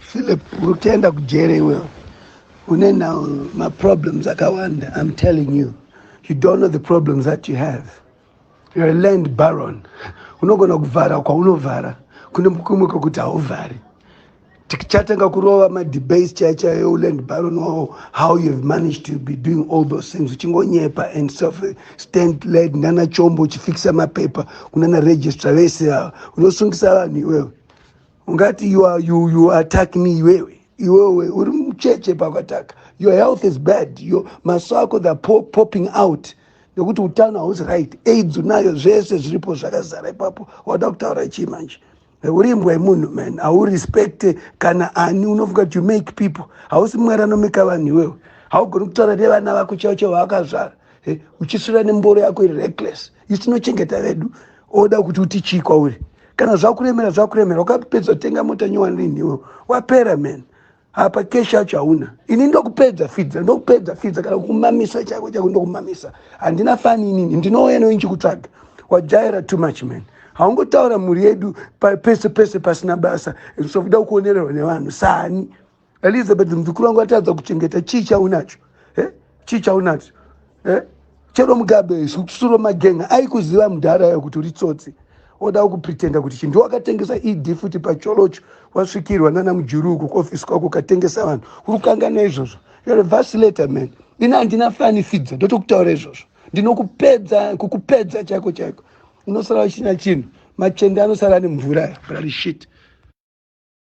Philip uri kutoenda kujere iwe une now maproblems akawanda im telling you you don't know the problems that you have you're a land baron unogona kuvhara kwaunovhara kune kumwe kwekuti hauvhari tichatanga kurova madebase chaya chaya euland baron wavo how you have managed to be doing all those things uchingonyepa and self stand led nana chombo uchifikisa mapepa kunana registra vese ava unosungisa vanhu iwewe ungati you are, you, you attack me iwewe iwewe uri mucheche pakataka your health is bad your maso ako the po, popping out nekuti utano hausi right aids unayo zvese zviripo zvakazara ipapo wada kutaura chii manje uri imbwa yemunhu man haurespecte kana ani unofunga kuti you make people hausi mwari anomeka vanhu iwewe haugoni kutaura nevana vako chavo chavo vaakazvara uchisvira nemboro yako iri reckless isu tinochengeta vedu oda kuti uti chii kwauri kana zvakuremera zvakuremera wakapedza tenga mota nyowani rini iwe wapera man apa keshi yacho hauna ini ndokupedza fidza ndokupedza fidza kana kumamisa chako chako ndokumamisa handina fani inini ndinouya newe ndichikutsvaga wajaira too much man haungotaura mhuri yedu pese pese pasina basa sokuda kuonererwa nevanhu sani elizabeth muzukuru wangu atadza kuchengeta chii chaunacho eh? chii chaunacho eh? chero mugabe isu kusuro magenga aikuziva mudhara yo kuti uri tsotsi oda kupretenda kuti chinhu ndiwakatengesa ed futi pacholocho wasvikirwa nana mujuru uko kuofisi kwako ukatengesa vanhu uri kukangana izvozvo you're a vacilator man ini handina fani fidzo ndotokutaura izvozvo ndinokupedza kukupedza chaiko chaiko unosara uchina chinhu machende anosara ane mvura yo brari shit